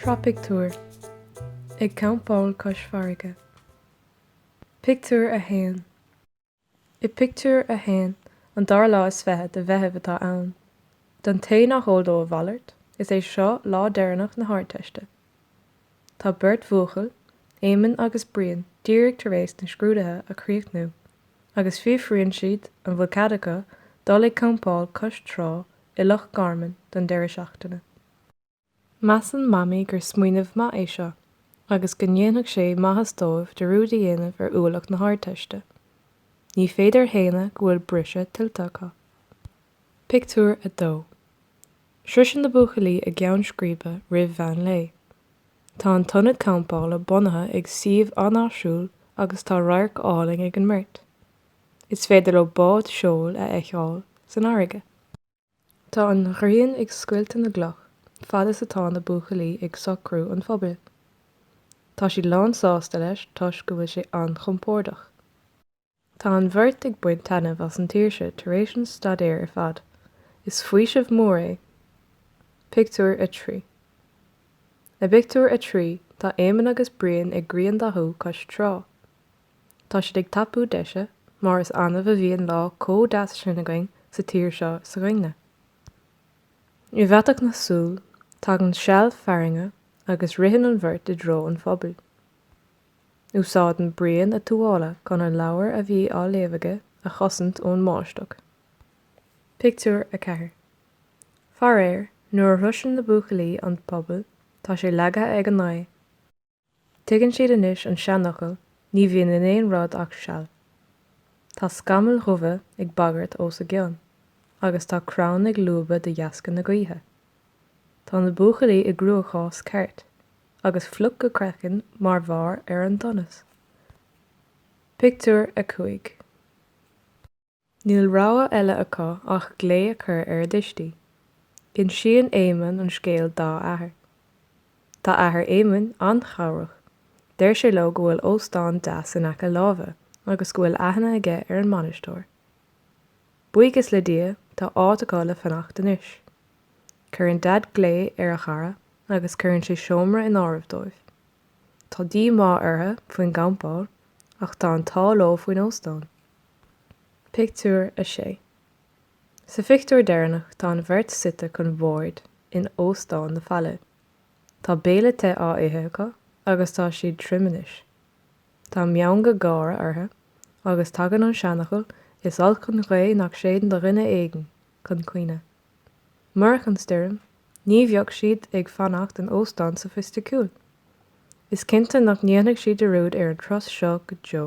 Sraith pictiúr, Ag campáil cois farraige. Pictiúr 1 I bpictiúr a haon, an dara lá is fiche de Mheitheamh atá ann. Don té nach eol dó a mhalairt, is é seo lá deireanach na hArdteiste Tá beirt bhuachaill, Éamonn agus Brian, díreach tar éis na scrúdaithe a chríochnú, agus fiafraíonn siad an bhfuil cead acu dul ag campáil cois trá i Loch Garman don deireadh seachtaine. Measann Mamaí gur smaoineamh maith é seo, agus go ndéanfadh sé maitheas dóibh dearúd a dhéanamh ar ualach na hArdteiste. Ní féidir a shéanadh go bhfuil briseadh tuillte acu. Pictiúr 2 Sroiseann na buachaillí a gceann scríbe roimh mheán lae. Tá an t-ionad campála bunaithe ag suíomh an-áisiúil agus tá radharc álainn ag an mbeirt. Is féidir leo bád seoil a fheiceáil san fharraige. Tá an ghrian ag scoilteadh na gcloch fad is atá na buachaillí ag socrú an phubaill. Tá siad lán sásta leis toisc go bhfuil sé an-chompordach. Tá an bheirt ag baint taitneamh as an tsaoirse tar éis an staidéir ar fad. Is faoiseamh mór é. Pictiúr 3 I bpictiúr a trí, tá Éamonn agus Brian ag griandathú cois trá. Tá siad ag tapú deise, mar is annamh a bhíonn lá comh deas sin againn sa tír seo s'againn-ne. I bhfaiteadh na súl, tagann seal fearthainne agus ritheann an bheirt i dtreo an phubaill. Úsáideann Brian a tuáille chun an leabhar a bhí á léamh aige a chosaint ón mbáisteach. Pictiúr 4 Faraoir, nuair a shroiseann na buachaillí an puball, tá sé leagtha ag an ngaoth. Tuigeann siad anois an seanfhocal, ní bhíonn in aon rud ach seal. Tá scamaill dhubha ag bagairt os a gcionn, agus tá crann ag lúbadh de dheasca na gaoithe. Tá na buachaillí i gcruachás ceart, agus fliuch go craiceann mar bharr ar an donas. Pictiúr 5 Níl rogha eile acu ach glao a chur ar a dtuistí. Insíonn Éamonn an scéal dá athair. Tá athair Éamoinn an-chabhrach. Deir sé leo go bhfuil óstán deas in aice láimhe agus go bhfuil aithne aige ar an mbainisteoir. Buíochas le Dia, tá áit acu le fanacht anois. Cuireann Daid glao ar a chara agus cuireann sé seomra in áirithe dóibh. Tá díomá orthu faoin gcampáil ach tá an t-ádh leo faoin óstán. Pictiúr 6 Sa phictiúr deireanach tá an bheirt suite chun boird in Óstán na Faille. Tá béile te á ithe acu agus tá siad tirim anois. Tá meangadh gáire orthu agus tagann an seanfhocal 'Is olc an ghaoth nach séideann do dhuine éigin' chun cuimhne. Murach an stoirm, ní bheadh siad ag fanacht in óstán sofaisticiúil. Is cinnte nach ndéanfaidh siad dearúd ar an turas seo go deo.